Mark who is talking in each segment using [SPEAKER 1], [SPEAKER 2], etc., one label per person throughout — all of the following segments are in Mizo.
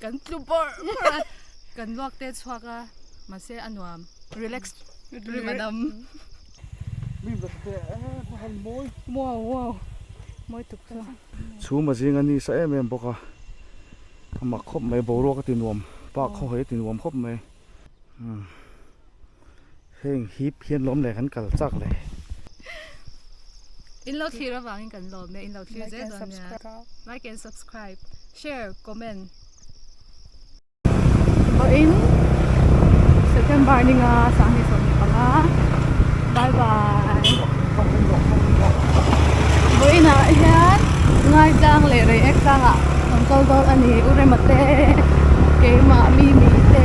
[SPEAKER 1] Kan tlu bawr bawr a, kan luak te chhuak a, mahse a nuam, relax rim a dam. Wow wow, mawi tuk chu. Chhum a zing a ni sa em em bawk a, a mak khawp mai, boruak a ti nuam, pah khaw hi a ti nuam khawp mai. Heng hi phian lawm leh kan kal chak leh. In lo thlir avang in kan lawm e in lo thlir zel dawn nia like and subscribe share comment Bo in September ni nga sang ni som ni panga bye bye Bo in a hian ngai tlang leh rei ek tlang ah kan kal dawn ani urema te keima mi mi te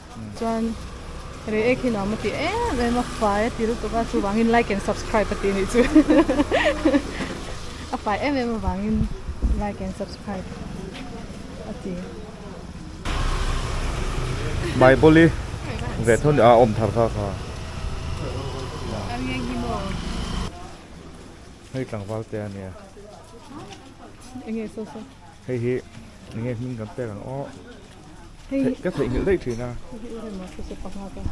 [SPEAKER 1] Chuan re ek hi nuam a ti em em a fai a ti lutuk a chuvangin like and subscribe a ti anih chu a fai em em avangin like and subscribe a ti. Bible hi ve tho nia a awm thar kha kha. Ang nge nghi maw? Hei tlangval te a nia. Enge saw saw. Hei hi ni nge hming kan pek ang aw. Hei ka thei ngil dei thina. Hei hi ma se se panga ka.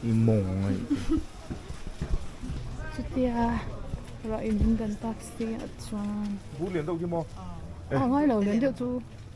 [SPEAKER 1] I mong ngai. Chutia ra in hming kan tak si at chuan. Bu lian deuh hi mo. A ngai lo lian deuh chu.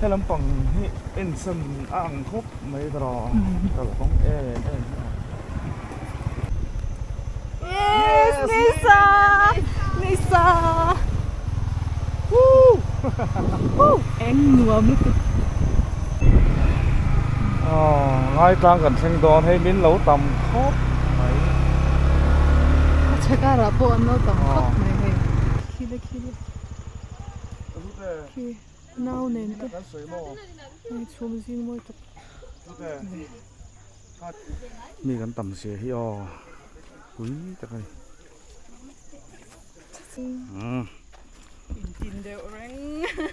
[SPEAKER 1] Helam pang hi ensan a ang khawp mai ka rawh kalkawng em em hi ang. Yes, Nisa! Nisa! Woo! Woo! Eng nuam lutu. Oh, ngai tlang kan thleng dawn hei min lo tam khawp mai. A chhakara pawh an lo tam khawp mai hei. Khi le khi le. khi nau nen te hei chhum zing mawi tak mai mi kan tam sia hi aw pui tak ani umm intin deuh reng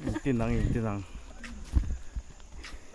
[SPEAKER 1] intin ang intin ang.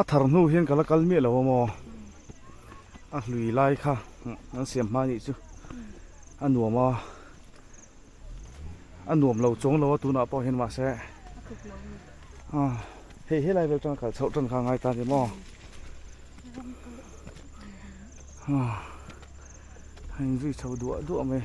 [SPEAKER 1] A thar hnu hian ka la kal miah lo a maw? A hlui lai kha an siam hma anih chu. A nuam a. A nuam lo chuang lo a tunah pawh hian mahse. Ah, hei helai vel atanga kal chhoh tan kha a ngai ta ni maw? Ah, a inzui chho duah duah mai.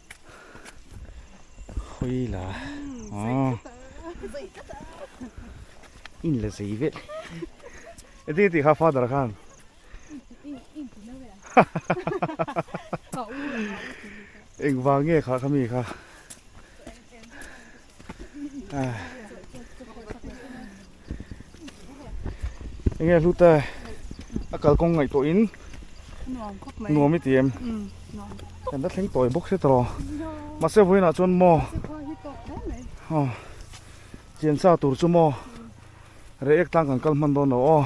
[SPEAKER 1] Khawi la. Aa. In la zai vet. Eti ti kha father khan. Eng vang nge kha kami kha. Enge hlu ta a kal kong ngai tawh in nuam khawp mai nuam iti em um nuam kan ta thleng tawh bawk se tawh ma se voi na chuan mo ha chian sa tur chu mo re ek tlang kan kal hman dawn lo aw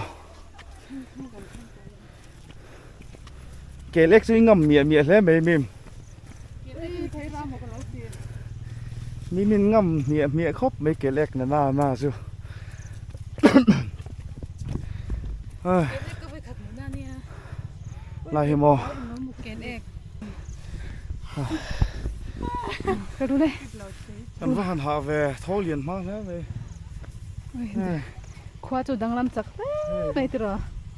[SPEAKER 1] ke lek chu i ngam miah miah hle mai mim mi min ngam miah miah khawp mai ke lek na na na chu lai hi mo ke lek ka ru le kan va han ha ve tho lian hma hle mai khua chu danglam chak hle mai tira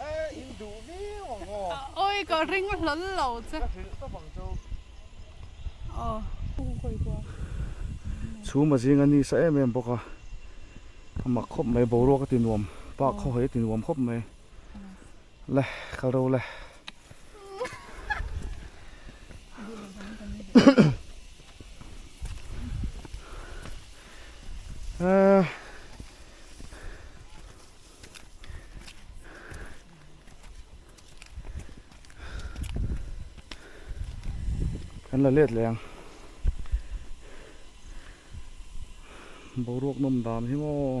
[SPEAKER 1] Eh, in duh viau ang aw. A oi, ka ring hlawl lo che. Ka hrilh tawp ang chu. Aw. Kum khawih pawh a. Chhum a zing a ni sa em em bawk a. A mak khawp mai, boruak a ti nuam, pa khaw hi a ti nuam khawp mai. Le, kal reuh le. Eh. kan la let leh ang boruak nawm dan hi maw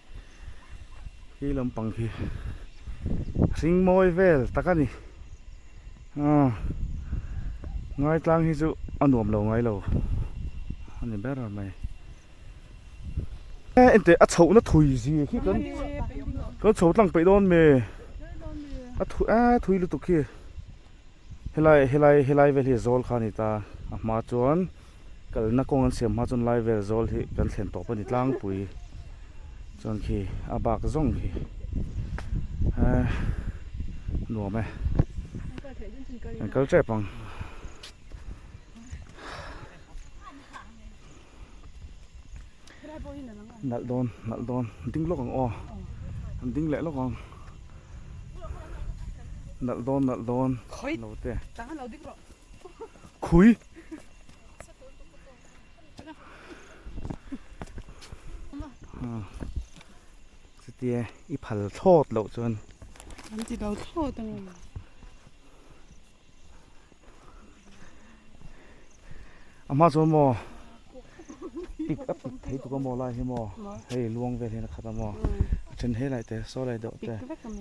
[SPEAKER 1] Khi lampang khi hring mawi vel tak a ni ah ngaitlang hi chu a nuam lo ngai lo a ni ber mai eh engteh a chhoh na thui zi khi kan kan chho tlang peih dawn mi a thu a thui lutuk khi helai helai helai vel hi zawl kha a ni ta a hma chuan Kalna kawng an siam hma chuan lai vel zawl hi kan thlen tawp a ni tlangpui chuan khi a bak zawng hi eh nuam e kan kal tep ang nalh dawn nalh dawn ding lawk ang aw an ding leh lawk ang nalh dawn nalh dawn note khui Chutia i phal thlawt loh chuan an ti lo thlawt ang em ama chu mo pik a pik thei tuk a maw lai hi maw hei luang vel hian a khat a maw a then he laih te saw laih deuh te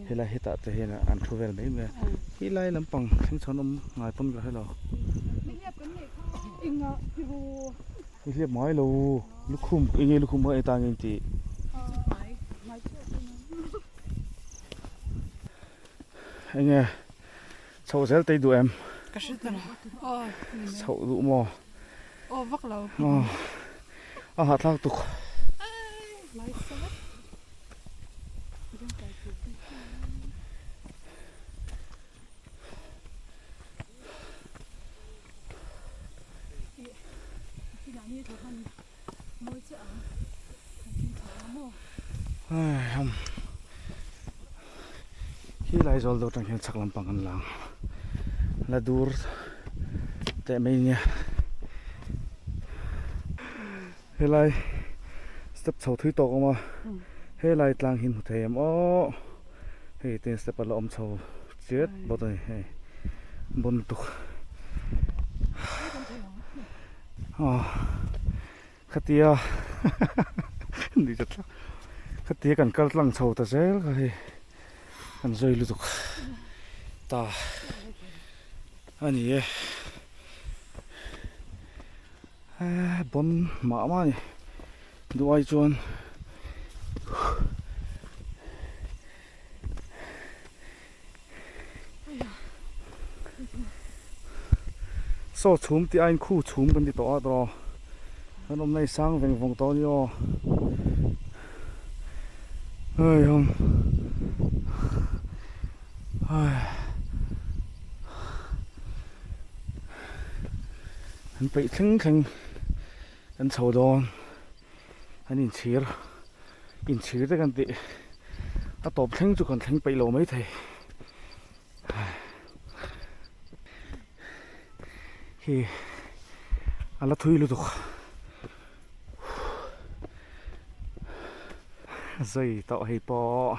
[SPEAKER 1] helai hetah te hian an thu vel mai mai a he lai lampang thleng chhan awm ngai pawn ka hre lo i hliap ngai lo lukhum eng nge lukhum hei tang in tih eng nge Chhoh zel tei duh em? Ka hre ta lo. Aw ni mai. Chhoh duh maw? Aw vak lo. Aw a hahthlak tuk. Hi Laizawl dawr tang hian chak lampang an la ang la dur teh mai nia helai step chho thui tawk awm a helai tlang hi hmu thei em aww hei ten step a la awm chho chiat bawk a ni hei bun tuk. Ahh khatia khatia kan kal tlang chho ta zel kha hei kan zawi lutuk ta a ni e ahh bawm mah mah ni duhai chuan Saw chhum tih aiin khu chhum kan ti tawh a draw kan awmna hi sang veng vawng tawh a ni aw hei hawng hei kan peih thleng thleng kan chho dawn An inchhir, inchhir te kan tih a tawp thleng chu kan thleng peih lo mai thei. Hi a la thui lutuk. Zui tawh hei pawh.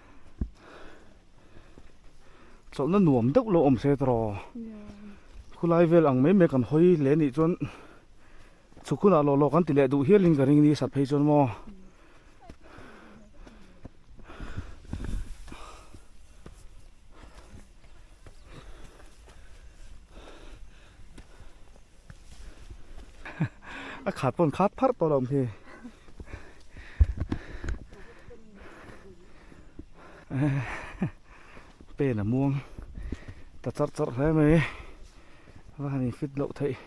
[SPEAKER 1] chawlh na nuam deuh lo awm se tawrh aw khulai vel ang mai mai kan hawi leh nih chuan chhu khunah lawh lawh kan ti leh duh hial in ka ring ni sat phei chuan maw a khat pawn khat pharh tawh lo hi pen a muang ta char char hle mai van in fit loh theih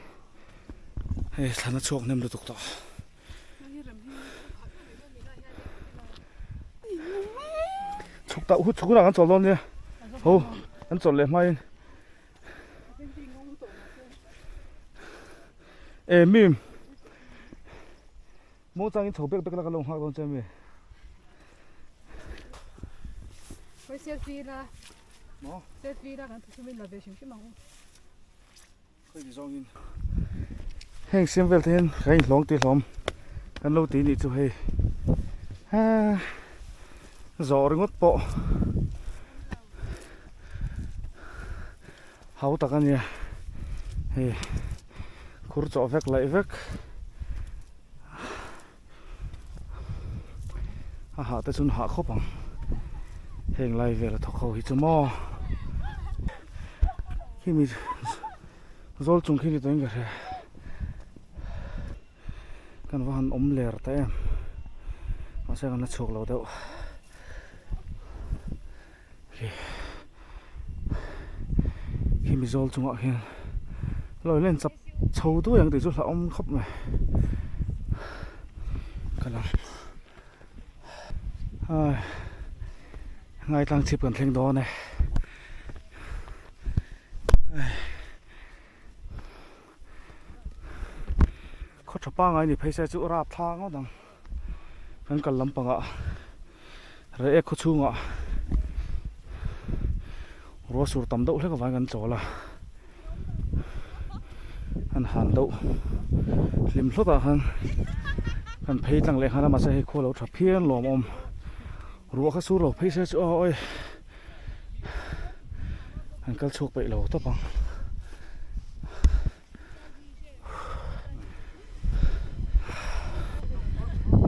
[SPEAKER 1] hei thlan a chhuak nem lutuk tawh chhuk ta hu chhuk rang an chawl dawn nia ho an chawl leh hmain eh mi mo chang in chho bek bek laka lo nghak dawn che mi Hoi selfie la mo selfie la kan thusumin la ve hrim hrim ang u khoi ti zawngin heng sim vel te hin kan in hlawng ti hlawm kan lo ti ni chu hei ha zawh ringawt pawh hau tak a nia hei khur chawh vek laih vek a hah te chuan hah khawp ang heng lai vela thawk ho hi chu maw khi mi zawl chung khi ni ta in ka hria. kan va han awm ler ta em mahse kan la chhuk lo deuh khi khi mizawl chungah khian lawi len chap chho duai ang tih chu hlauhawm khawp mai ka la ai ngaitlang chhip kan thleng dawn e ai khawtha pangai ni phei se chu rap thla ngawt ang kan kal lampangah reh ek khaw chhungah rua sur tam deuh hlek avangin kan chawl a han han deuh hlim hlawtah khan kan phei tlang leh nghal a mahse hei khualo tha phian lawm a awm ruah kha sur lo phei se chu aw awih. an kal chhuak peih lo tawp ang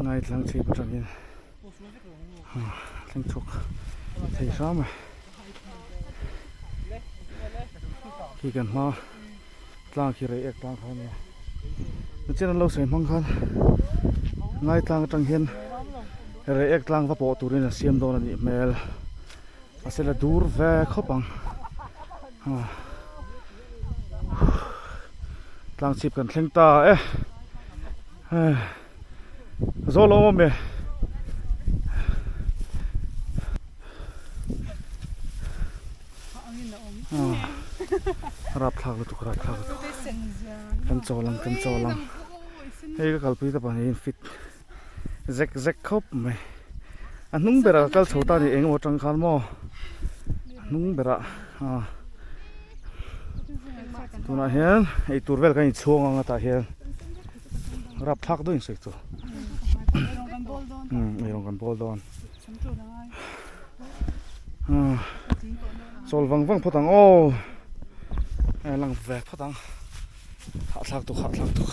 [SPEAKER 1] ngai tlang chhip atangin thleng chhuak thei hram e khi kan hma tlang khi rei ek tlang kha nia a chian an lo sawi hmang khan ngai tlang atang hian rei ek tlang va pawh turin an siam dawn a nih hmel a se la dur ve khawp ang ah tlang chhip kan thleng ta e. Zawl a awm e. Rap thlak lutuk rap thlak lutuk. Kan chaw lang kan chaw lang. Hei ka kalpui te pawh in fit zek zek khawp mai. A hnung berah ka kal chho ta ni engemaw tang khan maw. A hnung berah a. Tunah hian eitur vel kan inchhuang ang a tah hian. Rap phak duh in sawi chu. Hmm, erawng kan bawl dawn. Hmm. Chawl vang vang phawt ang aw. Ai lang ve phawt ang. Hah thlak tuk, hah thlak tuk.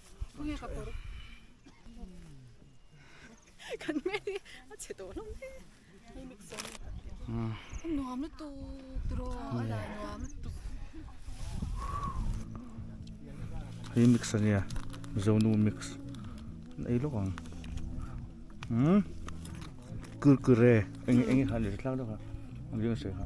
[SPEAKER 1] Hei mix ania zonu mix ei lawk ang um kurkure eng eng han leh tlang deuh a riangseh kha.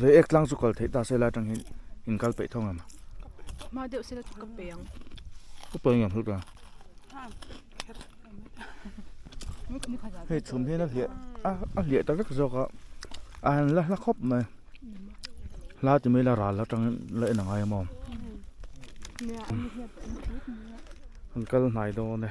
[SPEAKER 1] Rei ek tlang chu kal theih ta se lai tang hian in kal peih thung ang. Ma deuh se la chu ka peih ang. Ka peih ang hlut ang. Hei chhum hian a hliah a a hliah ta vek zawk a. A han la hla khawp mai. Hla ti mai la ral la tang la en angai maw. An kal hnai dawn e.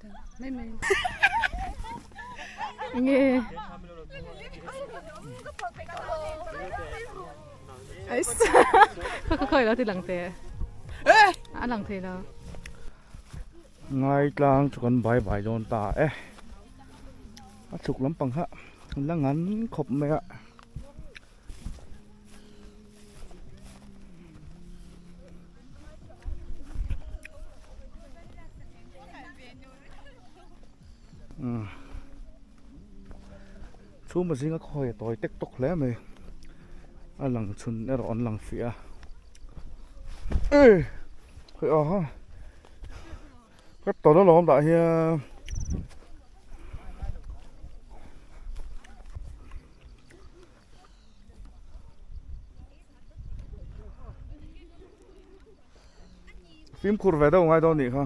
[SPEAKER 1] Ngaitlang chu kan bai bai dawn ta e a chhuk lampang kha la ngan khawp mai a. Hmm. Chu ma zinga khawia tawi tek tok hle mai a lang chhun erawh an lang fiah a. Ê! Khawih aw ha. Ka tawlh alawm dah hian fimkhur ve deuh ngai dawn nih kha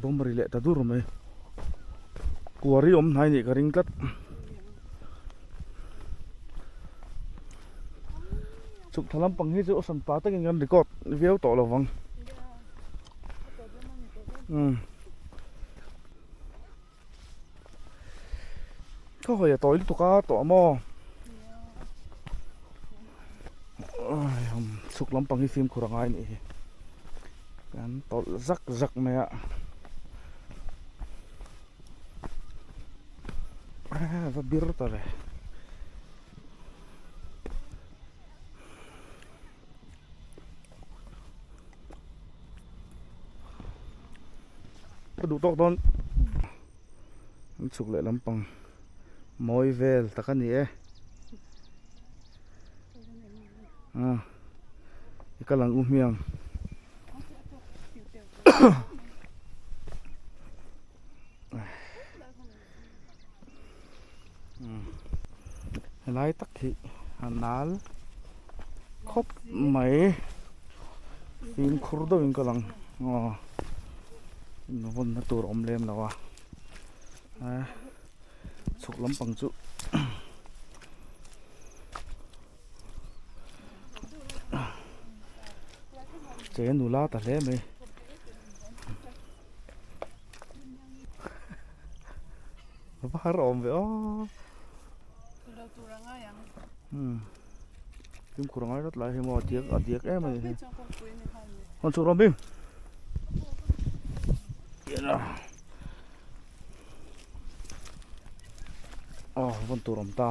[SPEAKER 1] bawm ri leh ta dur mai kuari awm hnai nih ka ring tlat chhukthla lampang hi chu awsam ta takin kan record viau tawh lovang umm. Khawhaia tawh in tuka tawh a maw? Chhuk lampang hi fimkhur a ngai nih hi. Kan tawlh zak zak mai a. Ah, va bir ta ve. ka duh tawk dawn an chhuk leh lampang mawi vel tak a ni e a ah, i ka lang u hmiang helai tak hi a nal khawp mai fim khur deuh in ka lang aw invawn na tur awm lem lo a chhuk lampang chu che nu la ta hle mai var a awm ve aw hmm tum khur a ngai rawt lai hi maw a diak a diak em a ni hi hawn chhuh rawh bim aw vawn tur awm ta.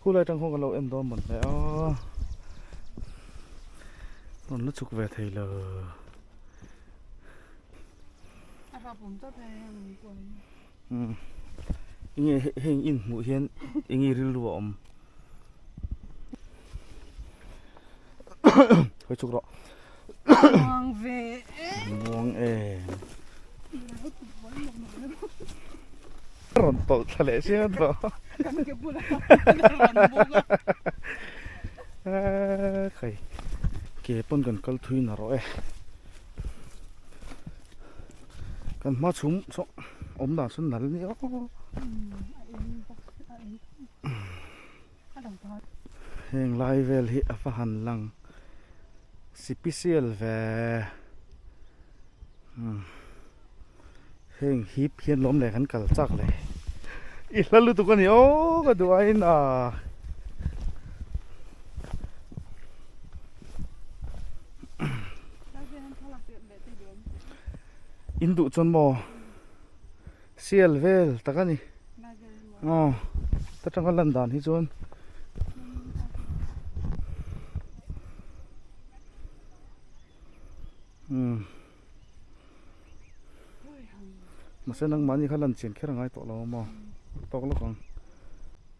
[SPEAKER 1] Khu lai tang khaw kan lo en dawn man hle a Rawn la chuk ve thei lo A rap awm tak mai a heng pawh hmm. Inge heng in hmuh hian enge rilru a awm Hoi chuk rawh. Buang ve e. Buang e. Ron tol tha leh sia tro. Kan ke bula. Kai. Ke pon kan kal thui na ro e. Kan ma chum so om dan sun nal ni o. Heng lai vel hi a fa han lang sipisial ve umm heng hip hian lawm leh kan kal chak le i hla lutuk a ni aww ka duh aiin aah umm in duh chuan maw. Sial vel tak a ni. Aw, ta tanga lan dan hi chuan. Hmm. Mase nangmahni kha lan chian kher a ngai tawh lo maw? Tawk lawk ang.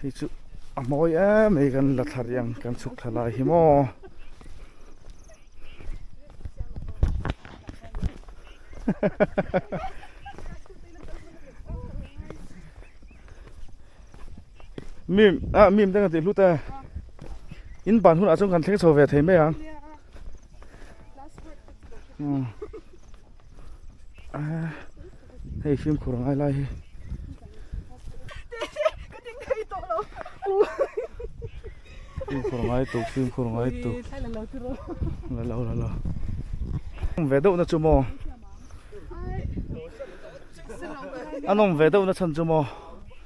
[SPEAKER 1] hei chu a mawi em mai kan la thar hian kan chhuk thla lai hi maw mim a mim te kan tih hlut a in ban hunah chuan kan thleng chho ve thei mai ang. hei fimkhur a ngai lai hi fimkhur ngai tur fimkhur ngai tur la lo la lo nawm ve deuh na chu maw a nawm ve deuh na chhan chu maw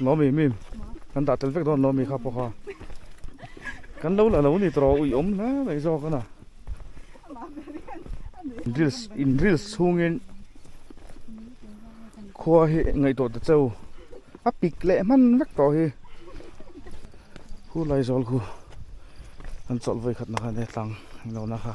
[SPEAKER 1] Nawmi mi kan dah tel vek dawn Nawmi kha pawh kha kan lo la lo ni tawrh ui awm hle mai zawk an a reels in reels chhungin khua hi ngaihtuah ta cheu a pik leh hman vek tawh hi hu lai zawl khu an chawlh vawi khatna kha ania tlang inlo na kha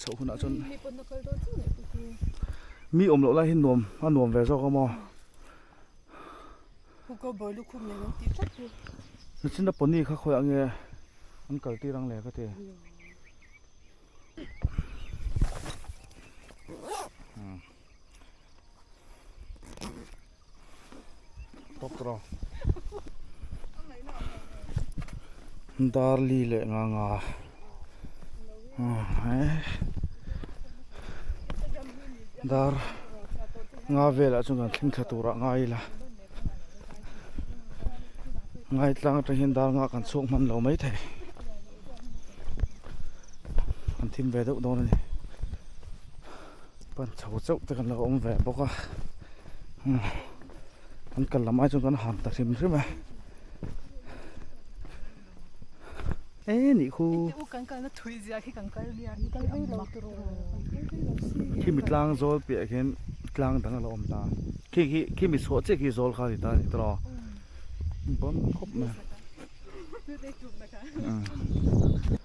[SPEAKER 1] chho hunah chuan mi awm loh lai hi nuam a nuam ve zawk a maw hrichhina pawni kha khawiah nge an kal tir ang leh ka ti hmm Tokro. Darli le nga nga. Dar nga vela chung kan thing thatura nga ila. Ngai tlang atang hin dar nga kan chuk man lo mai thei. Kan thim ve deuh dawn ani. pan chho chauh te kan lo awm ve bawk a kan kal lam ai chuan kan ham ta hrim hrim a he ni khaw engtih u kan kalna thuih zia khi kan kal nia hi kal vei lo tur aww khi mi tlang zawl piah ah khian tlang dang alo awm ta khi khi khi mi chhuah chiah khi zawl kha ani ta ni tawh law bawm khawp mai tute chukna kha umm.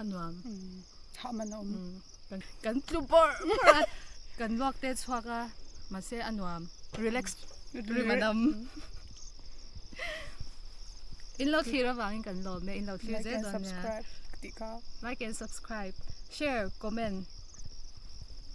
[SPEAKER 1] a nuam hah man a awm kan tlu bawr bawr a kan luak te chhuak a mahse a nuam relax rim an awm in lo thlir avangin kan lawm e in lo thlir zel dawn nia like and subscribe share comment